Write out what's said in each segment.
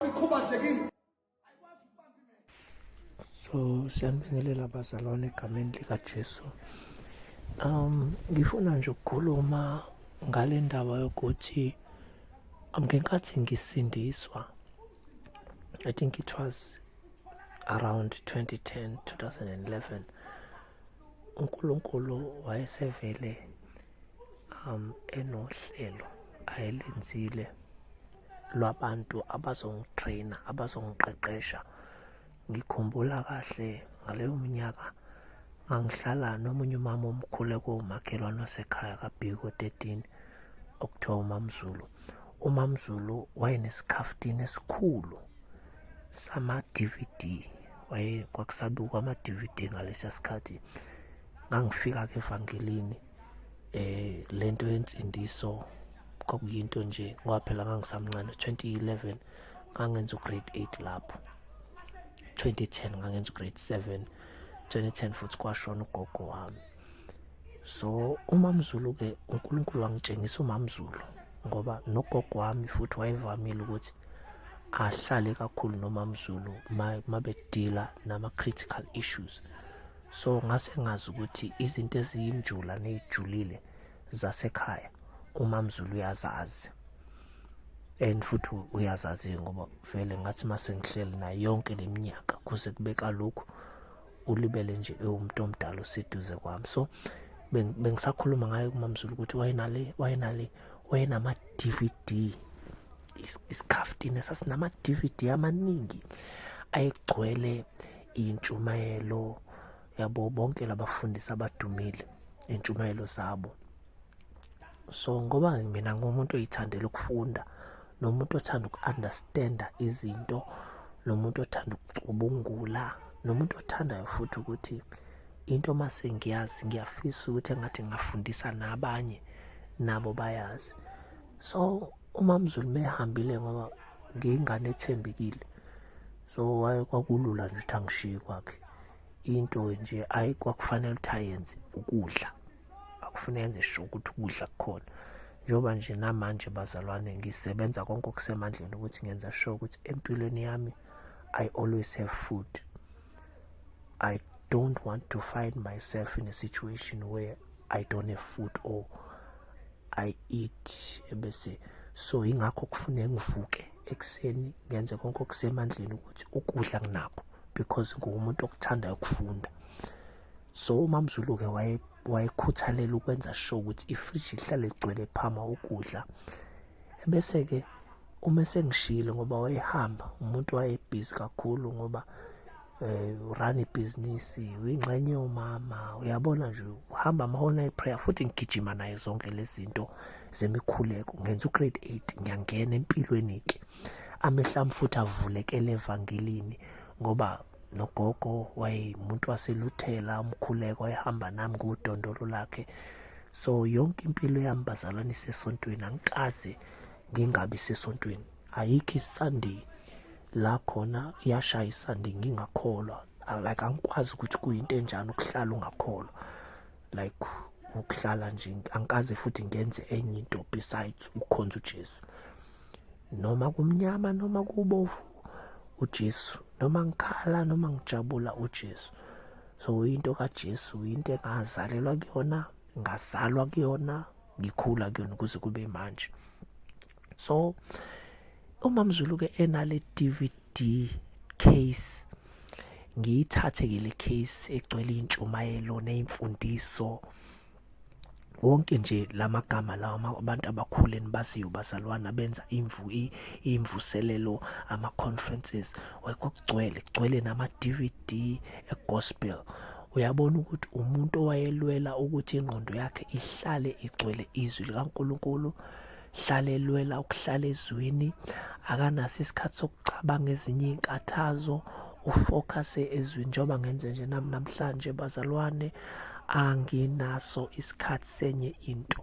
ikhubazekile so siyanibingelela abazalwane egameni likaJesu um ngifuna nje ukukhuluma ngale ndaba yokuthi ngenkathi ngisindiswa i think it was around 2010 2011 uNkulunkulu wayesevele um enohlelo ayelenzile lwabantu abazongitraina abazongiqeqesha ngikhumbula kahle ngaleyo minyaka ngangihlala nomunye umama omkhulu ekuwumakhelwane wasekhaya kabhiko 13 okuthiwa umamzulu umamzulu wayenesikhaftini esikhulu sama-dvd waye kwakusabukwa ama-dvd ngalesiya sikhathi ngangifika ke evangelini eh lento yensindiso kwakuyinto nje ngoba phela ngangisamncane 2011 ngangenza ugrade 8 lapho 2010 ngangenza ugrade 7 2010 futhi kwashona ugogo wami so umamzulu ke uNkulunkulu wangitshengisa umamzulu ngoba nogogo wami futhi wayevamile ukuthi ahlale kakhulu nomamzulu mabedila nama critical issues so ngase ngazi ukuthi izinto eziyinjula neyijulile zasekhaya umamzulu uyazazi and futhi uyazazi ngoba vele ngathi mase ngihleli nayo yonke leminyaka kuze kube kalokhu ulibele nje ewumuntu omdala oseduze kwami so bengisakhuluma ngayo kumamzulu ukuthi wayenale wayenale wayenama DVD isikhaftini sasinama DVD amaningi ayegcwele intshumayelo yabo bonke labafundisi abadumile intshumayelo zabo so ngoba mina ngumuntu oyithandela ukufunda nomuntu othanda uku-understanda izinto nomuntu othanda ukucubungula nomuntu othandayo futhi ukuthi into uma sengiyazi ngiyafisa ukuthi engathi ngingafundisa nabanye nabo bayazi so umamzulu mehambile ngoba ngiyingane ethembekile so waye kwakulula nje ukuthi angishiye kwakhe into nje ayi kwakufanele ukuthi ayenze ukudla akufuneka enze sho ukuthi ukudla kukhona njengoba nje namanje bazalwane ngisebenza konke okusemandleni ukuthi ngenza sure ukuthi empilweni yami i always have food i don't want to find myself in a situation where i don't have food or i eat ebese so ingakho kufuneka ngivuke ekuseni ngenze konke okusemandleni ukuthi ukudla nginakho because nguwumuntu okuthandayo ukufunda so umamzulu-ke wayekhuthalela ukwenza sure ukuthi ifriji lihlale ligcwele phama ukudla ebese-ke uma sengishile ngoba wayehamba umuntu wayebhizi kakhulu ngoba um urana ibhizinisi uyingxenye yomama uyabona nje uhamba ama-online prayer futhi ngigijima naye zonke lezi zinto zemikhuleko ngenza ugrade eight ngiyangena empilweni-ke amehla ami futhi avulekele evangelini ngoba nogogo wayemuntu waseluthela umkhuleko wayehamba nami ngudondolo lakhe so yonke impilo yami bazalwane isesontweni angikaze ngingabi sesontweni ayikho isunday la khona iyashayisa nje ngingakholwa like angikwazi ukuthi kuyinto enjani ukuhlala ungakholwa like ukuhlala nje angikaze futhi ngenze enye into besides ukukhonza uJesu noma kumnyama noma kubovu uJesu noma ngikhala noma ngijabula uJesu so into kaJesu into engazalelwa kuyona ngazalwa kuyona ngikhula kuyona ukuze kube manje so umamzulu ke enale DVD case ngiyithathe ke le case egcwele intshumayelo nezimfundiso wonke nje lamagama lawa abantu abakhulu enibaziyo bazalwana benza imvu imvuselelo ama conferences wayekugcwele kugcwele nama DVD e gospel uyabona ukuthi umuntu owayelwela ukuthi ingqondo yakhe ihlale igcwele izwi likaNkuluNkulu hlala elwela ukuhlala ezwini akanaso isikhathi sokucabanga ezinye iy'nkathazo ufocuse ezwini njengoba ngenze nje nami namhlanje bazalwane anginaso isikhathi senye into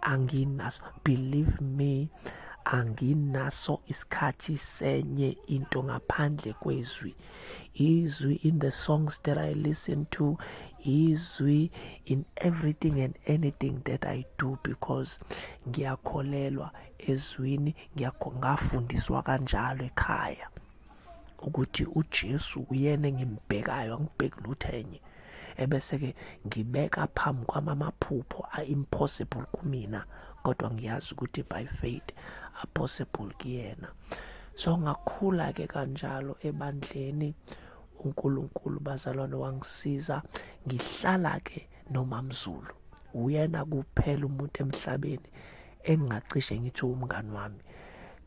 anginaso believe me anginaso isikhathi senye into ngaphandle kwezwi izwi in the songs that I listen to izwi in everything and anything that I do because ngiyakholelwa ezwini ngiyakho ngafundiswa kanjalo ekhaya ukuthi uJesu uyena engimbhekayo angibheki lutho enye ebese ke ngibeka phambi kwami amaphupho a-impossible kumina kodwa ngiyazi ukuthi by faith are possible kuyena so ngakhula ke kanjalo ebandleni uNkulunkulu bazalwane wangisiza ngihlala ke nomamzulu uyena kuphela umuntu emhlabeni engingacishe ngithi umngani wami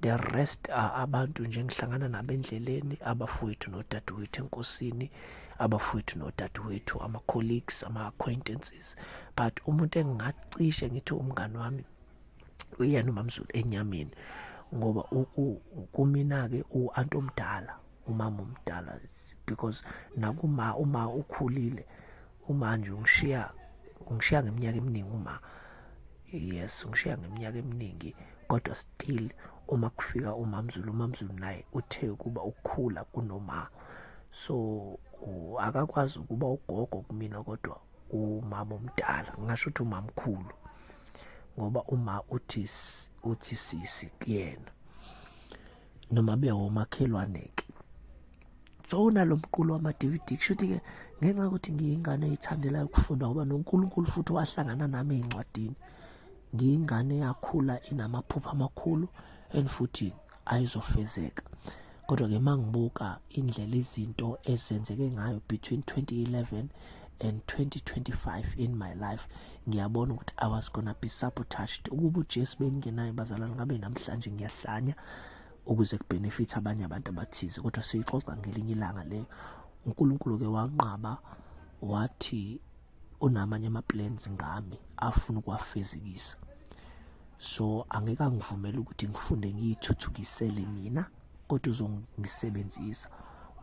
the rest are abantu nje ngihlangana nabo endleleni abafowethu nodadewethu enkosini abafowethu nodadewethu ama-colleagues ama-acquaintances but umuntu engingacishe ngithi umngani wami uyena umamzulu enyameni ngoba kumina-ke u-anti omdala umama omdala because nakuma uma ukhulile uma nje ungishiya ungishiya ngeminyaka eminingi uma yes ungishiya ngeminyaka eminingi kodwa still uma kufika umamzulu umamzulu naye uthe ukuba ukukhula kunoma so akakwazi ukuba ugogo kumina kodwa umama omdala ngingasho ukuthi umamkhulu ngoba uma uthi uthi sisi kuyena noma bewomakhelwane ke so unalo mqulu wama-dvd kushuthi ke ngenxa yokuthi ngiyingane eyithandelayo ukufunda ngoba nonkulunkulu futhi wahlangana nami ey'ncwadini ngiyingane yakhula inamaphupha amakhulu and futhi ayizofezeka kodwa ke mangibuka indlela izinto ezenzeke ngayo between 2011 and 2025 in my life ngiyabona ukuthi i was gonna be sabotaged ukuba ujesu bengingenayo bazalwane ngabe namhlanje ngiyahlanya ukuze kubenefithe abanye abantu abathize kodwa siyixoxa ngelinye ilanga leyo unkulunkulu-ke wanqaba wathi unamanye ama-plans ngami afuna ukuwafezekisa so angeke angivumele ukuthi ngifunde ngiyithuthukisele mina kodwa uzongisebenzisa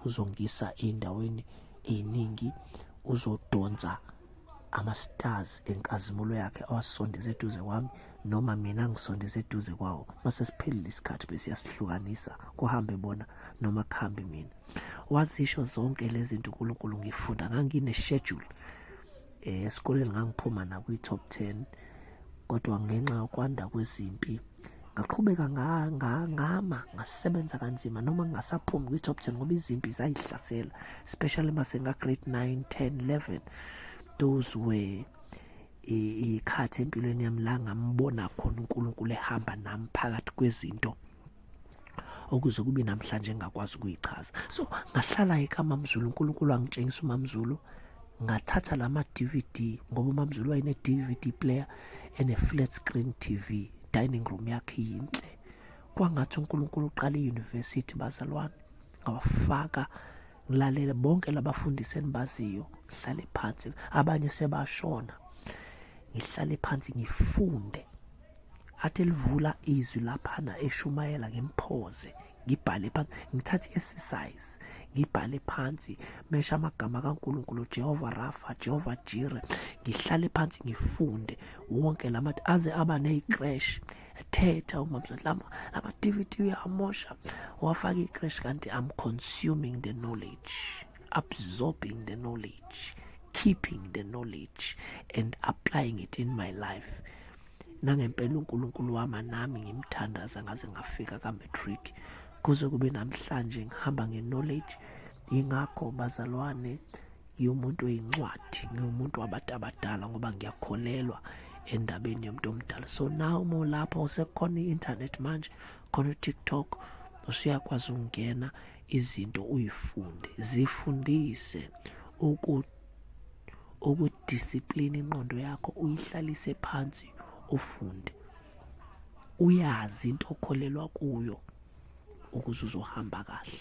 uzongisa ey'ndaweni ey'ningi uzodonsa ama-stars enkazimulo yakhe awasondeze eduze kwami noma mina ngisondeze eduze kwawo mase siphelile isikhathi besiyasihlukanisa kuhambe bona noma kuhambe mina wazisho zonke lezi zinto uNkulunkulu ngifunda ngangine schedule eh esikoleni ngangiphuma na kwi top 10 kodwa ngenxa yokwanda kwezimpi ngaqhubeka ngama ngasebenza kanzima noma ngingasaphumi kwi top 10 ngoba izimpi zayihlasela especially mase nga grade 9 10 11 those were ikhathi empilweni yami la ngambona khona uNkulunkulu ehamba nami phakathi kwezinto okuze kube namhlanje engakwazi ukuyichaza so ngahlala ekamamzulu unkulunkulu angitshengisa umamzulu ngathatha la ma-dvd ngoba umamzulu wayene-dvd player ene-flat screen tv dining room yakhe yinhle kwangathi unkulunkulu uqala iyunivesithi bazalwane ngawafaka ngilalele bonke labafundisi endibaziyo ngihlale phansi abanye sebashona ngihlale phansi ngifunde athi elivula izwi laphana eshumayela ngimphoze ngibhale phansi ngithathe i-exercise ngibhale phansi mesha amagama kaNkulunkulu Jehova Rafa Jehova Jire ngihlale phansi ngifunde wonke lama aze aba neziqresh ethetha umamswet lama lama DVD uyamosha wafaka iqresh kanti I'm consuming the knowledge absorbing the knowledge keeping the knowledge and applying it in my life Nangempela uNkulunkulu wama nami ngimthandaza ngaze ngafika ka-matric kuze kube namhlanje ngihamba nge-knowledge yingakho bazalwane ngiwumuntu oyincwadi ngiwumuntu wabantu abadala ngoba ngiyakholelwa endabeni yomuntu omdala so now uma ulapho sekukhona i-internet manje khona u-tiktok usuyakwazi ukungena izinto uyifunde zifundise ukuthi ukudiscipline inqondo yakho uyihlalise phansi ufunde uyazi into okholelwa kuyo ukuze uzohamba kahle